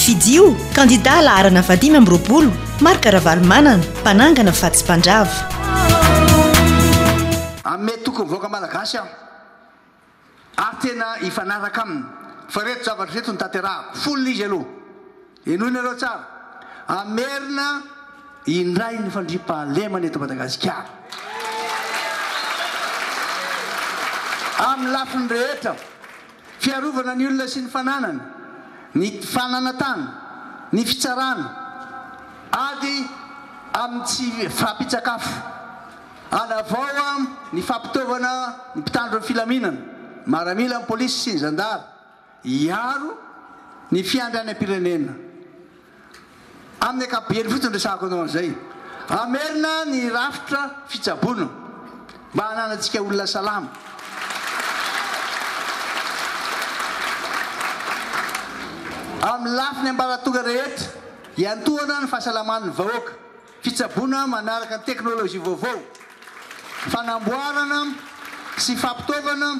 Fidio, kandidà laharana fahadimy amby roapolo, Marc Ravalomanana, mpanangana fa tsy mpandrava. Amin tokony vahoaka malagasy aho ary tena hifanaraka aminy fa reto zavatra reto no tanterahako folo izy aloha henoinareo tsara hamerina indray ny fandriampahalemana eto madagasikara aminy lafiny rehetra Fiarovana ny olona sy ny fananany, ny fananantany, ny fitsarana, ady amin'ny tsy fahampian-tsakafo, hanavao ny fampitaovana ny mpitandro ny filaminana, maramila, ny polisy sy ny zandary, hiaro ny fiandrianam-pirenena. Amin'ny ankapobeny fotsiny ny resahako anao an'izay. Hamerina ny rafitra fitsaboana mba hananantsika olona salama. Amin'ny lafiny ambaratonga rehetra, iantohana ny fahasalaman'ny vahoaka, fitsaboana manaraka ny teknolojia vaovao, fanamboarana sy fampitaovana,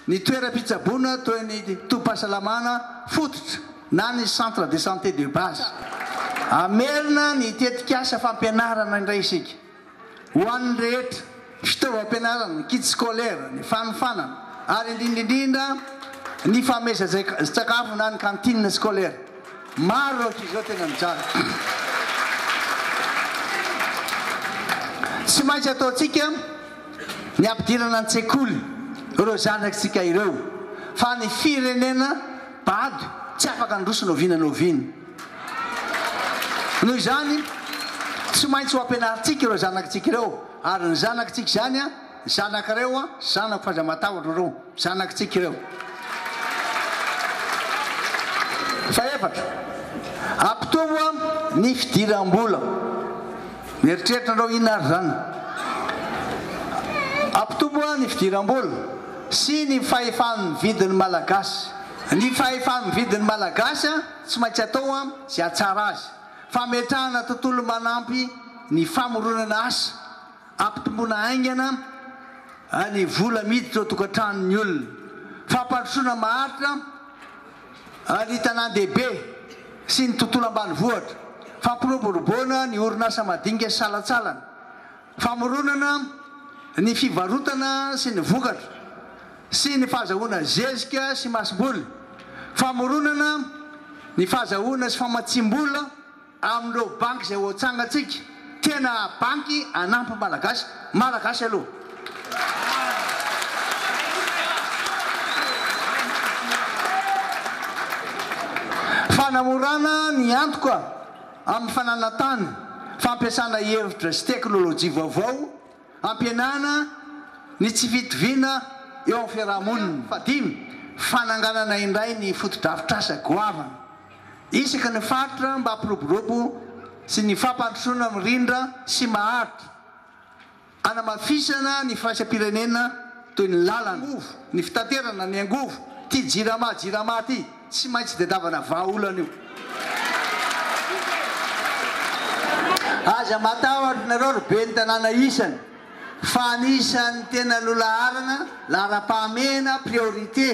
Ny toeram-pitsaboana toy ny tobim-pahasalamana fototra na ny centre de santé de base. Hamerina ny tetikasa fampianarana indray isika ho an'ny rehetra, fitaovam-pianarana, ny kits scolaires, ny fanofanana ary indrindra indrindra ny famezatsakafo na ny cantine scolaire. Maro ireo ankizy izao tena mijaly. Tsy maintsy ataontsika. ny hampidirana an-tsekoly ireo zanatsika ireo fa ny firenena bado tsy afaka handroso na oviana na oviana. Noho izany tsy maintsy ho ampianarintsika ireo zanatsika ireo ary ny zanatsika izany a, zanak'areo a, zanako f'aza matahotra reo. Zanakitsika ireo. Fahefatra, hampitombo ny fidiram-bola. Mieritreritra anareo inona ary izany? Hampitombo ny fidiram-bola sy ny fahefa-mividin'ny Malagasy. Ny fahefa-mividin'ny Malagasy tsy maintsy atao izay hahatsara azy. Fametrahana tontolo manampy ny famoronana asa. Ampitomboana haingana ny vola miditra ao an-tokantranon'ny olona. Fampandrosoana maharitra ny tanàn-dehibe sy ny tontolo ambanivohitra. Fampiroboroboana ny orinasa madinika sy salantsalany. Famoronana ny fivarotana sy ny vokatra sy ny fahazahoana zezika sy masomboly. Famoronana ny fahazahoana sy famatsiam-bola. Amin'ireo banky izay hoatsangantsika, tena banky hanampy ny Malagasy, Malagasy aloha. Fanamorana ny antoka amin'ny fananantany, fampiasana hevitra sy teknolojia vaovao, hampihenana ny tsy fitoviana eo amin'ny fiarahamonina. Fahadimy, fananganana indray ny fotodrafitrasa goavana Isaky ny faritra mba hampiroborobo sy ny fampandrosoana mirindra sy maharitra, hanamafisana ny firaisam-pirenena toy ny lalana, angovo, ny fitaterana, ny angovo, ity jirama jirama ity tsy maintsy tedavana vahaolana io. Aza matahotra nareo ry ben'ny tanàna isany fa anisan'ny tena lolaharana laharam-pahamehana priorité.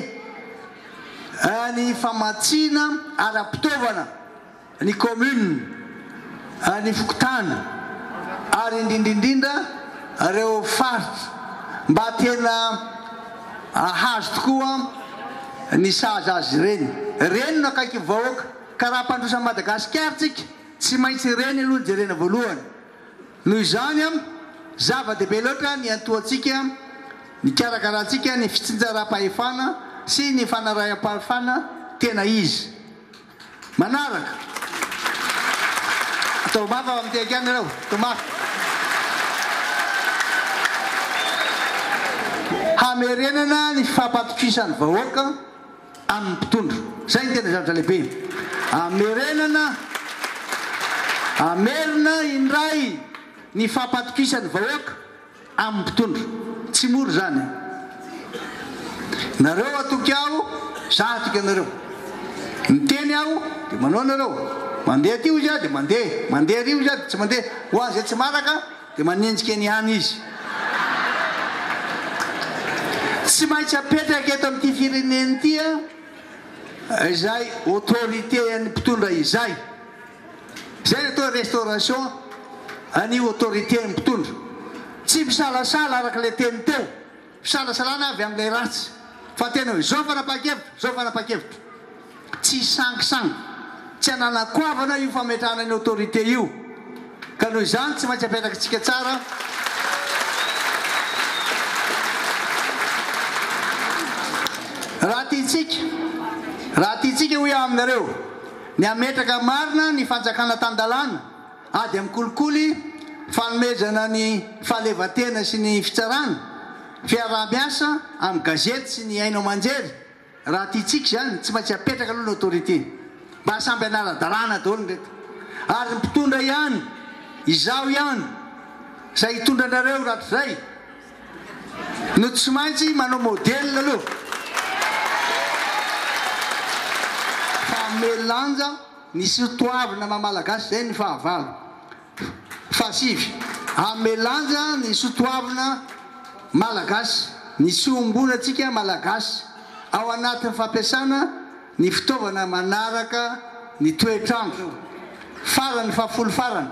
ny famatsiana ara-pitaovana ny kaominina, ny fokontany ary indrindra indrindra ireo faritra mba tena hahazo tokoa ny sazy azy ireny. Reny no akaiky ny vahoaka ka raha mpandroso an'i Madagasikara tsika tsy maintsy reny aloha no jerena voalohany. Noho izany, zava-dehibe loatra ny hiantohantsika, nikarakarantsika ny fitsinjaram-pahefana sy ny fanaraham-pahefana tena izy. Manaraka. Atao mafy ao amin'ny tehaka any ireo. Atao mafy. Hamerenana ny fampatokisan'ny vahoaka. amin'ny mpitondra. Izay no tena zavatra lehibe. Hamerenana, hamerina indray ny fampatokisan'ny vahoaka amin'ny mpitondra. Tsy mora izany e! Nareo hatoky aho, za hatoky anareo. Miteny aho dia manao nareo. Mandeha aty hoy za dia mandeha, mandeha ary hoy za dia tsy mandeha. Ho an'izay tsy maraka. Dia manenjika eny ihany izy. Tsy maintsy apetraka eto amin'ity firenena ity izay autorité an'ny mpitondra izay. Izay no atao hoe restauration an'io autorité an'ny mpitondra. Tsy misalasala araka ilay teny teo. Fisalasalana avy amin'ilay ratsy. Fa tena hoe, izao fanapahan-kevitro, izao fanapahan-kevitro. Tsy sangisangy. Tsy ananan'ny koavana io fametrahana ny autorité io. Ka noho izany tsy maintsy apetrakintsika tsara raha tiantsika, raha tiantsika hoy aho aminareo, ny hametraka marina ny fanjakana tan-dalàna. Ady amin'ny kolikoly, fanomezana ny fahalevan-tena sy ny fitsarana, fiaraha-miasa amin'ny gazety sy ny haino aman-jery, raha tiantsika izany, tsy maintsy apetraka aloha ny autorité. Mba samy hanara-dalàna daholo ireto. Ary ny mpitondra ihany, izaho ihany, izay hitondra anareo rahatrizay, no tsy maintsy manao modèle aloha fa hamehy lanja, Misy ho toavina maha Malagasy izay ny fahavalo. Fahasivy, hanome lanja ny soa toavina Malagasy, ny soa ombona antsika Malagasy, ao anatin'ny fampiasana ny fitaovana manaraka ny toetr'andro. Farany, fahafolo farany,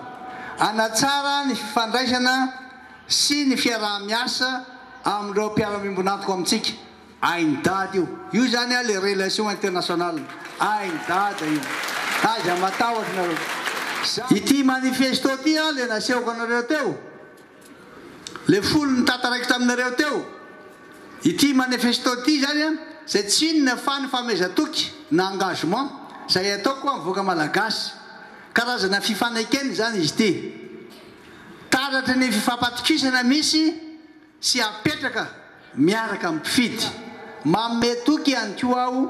hanatsara ny fifandraisana sy ny fiaraha-miasa amin'ireo mpiara-miombon'antoka amintsika. Hainy dada io. Io zany an le relation international. Hainy dada io. Aiza matahotra nareo. Za. Ity manifesto ity an le nasehoko anareo teo. Le folo nitataraiko taminareo teo. Ity manifesto ity zany an zay tsy inona fa ny famehezan-toky na engagement zay ataoko ho an'ny vahoaka malagasy. Karazana fifanekena izany izy ity. Taratry ny fifampatokisana misy. sy hapetraka miaraka amin'ny mpifidy. Manome toky ihany koa aho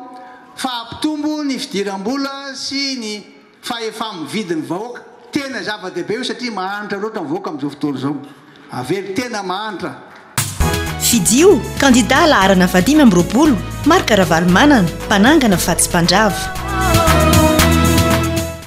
fa hampitombo ny fidiram-bola sy ny fahefa-mividy ny vahoaka. Tena zava-dehibe io satria mahantra loatra ny vahoaka amin'izao fotoana izao. Avelo tena mahantra. Fidio, kandidà laharana vahadimy amby roapolo, Marc Ravalomanana, mpanangana fa tsy mpandrava.